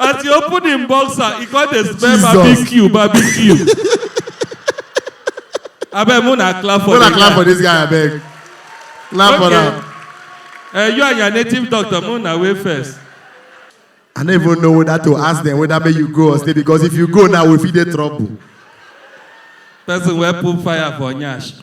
as he open him boxer he come dey smell barbecue barbecue abeg mo na clap for Una clap for this guy abeg. Clap for am. Uh, you and your native doctor mo na wey first. I no even know whether to ask them whether make you go or stay because if you go now we fit dey trouble. person wey put fire for nyash.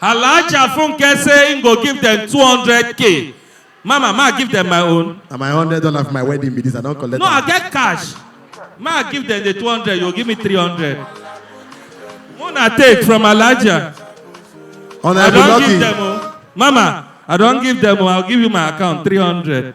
Alhaja Funke say im go give dem 200k. Mama, ma give dem my own. Na my hundred dollar for my wedding be this. I don collect No, I am. get cash. Ma give dem the 200, you give me 300. Una take from Alhaja. I Honourable don give Lucky. dem o. Mama, I don give dem o. I'll give you my account 300.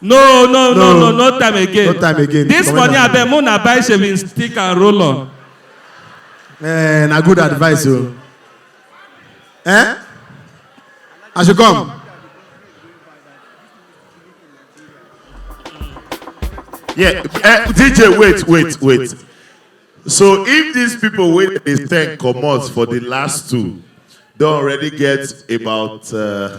no no no no no time again No time again. this Comot money am. abeg make una buy shaving stick and roll on Eh, na good advice o. Eh? I should come. Yeah, eh, DJ, wait, wait, wait. So if these people wey dey send comot for the last two don already get about uh,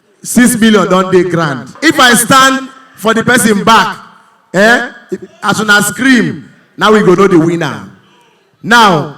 six million don dey grand if i stand for the person back eh as una scream now we go know the winner now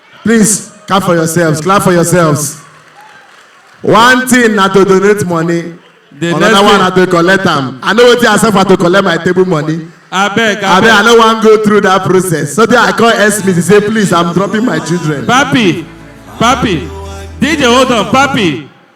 Please, clap for yourselves, clap for yourselves. One thing na to donate money, The another next one na to collect am. I know wetin I suffer to collect my table money. Abeg, Abi, I abeg. no wan go through that process. So then I call S. Smith, he say, please, I'm dropping my children. Papi, papi. DJ, hold on, papi.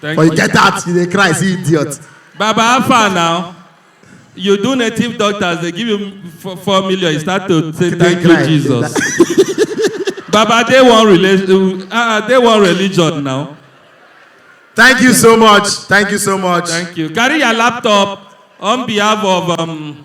Thank but you get that you dey cry see idiot. baba how far now you do native doctors dey give you four, four million you start to say Dey thank you cry. jesus baba dey one religion ah uh, dey one religion now thank you so much thank you so much. thank you carry your laptop on behalf of um,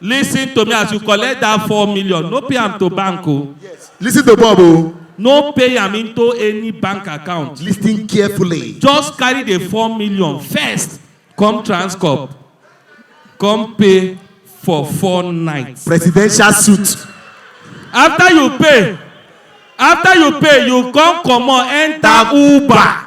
Listen to me as you collect that four million, no pay am to bank o. Listen to Bob o. No pay am into any bank account. Listen carefully. Just carry the four million first, come Transcorp, come pay for four nights. Presidential suit. After you pay, after you pay, you come comot enter Uber.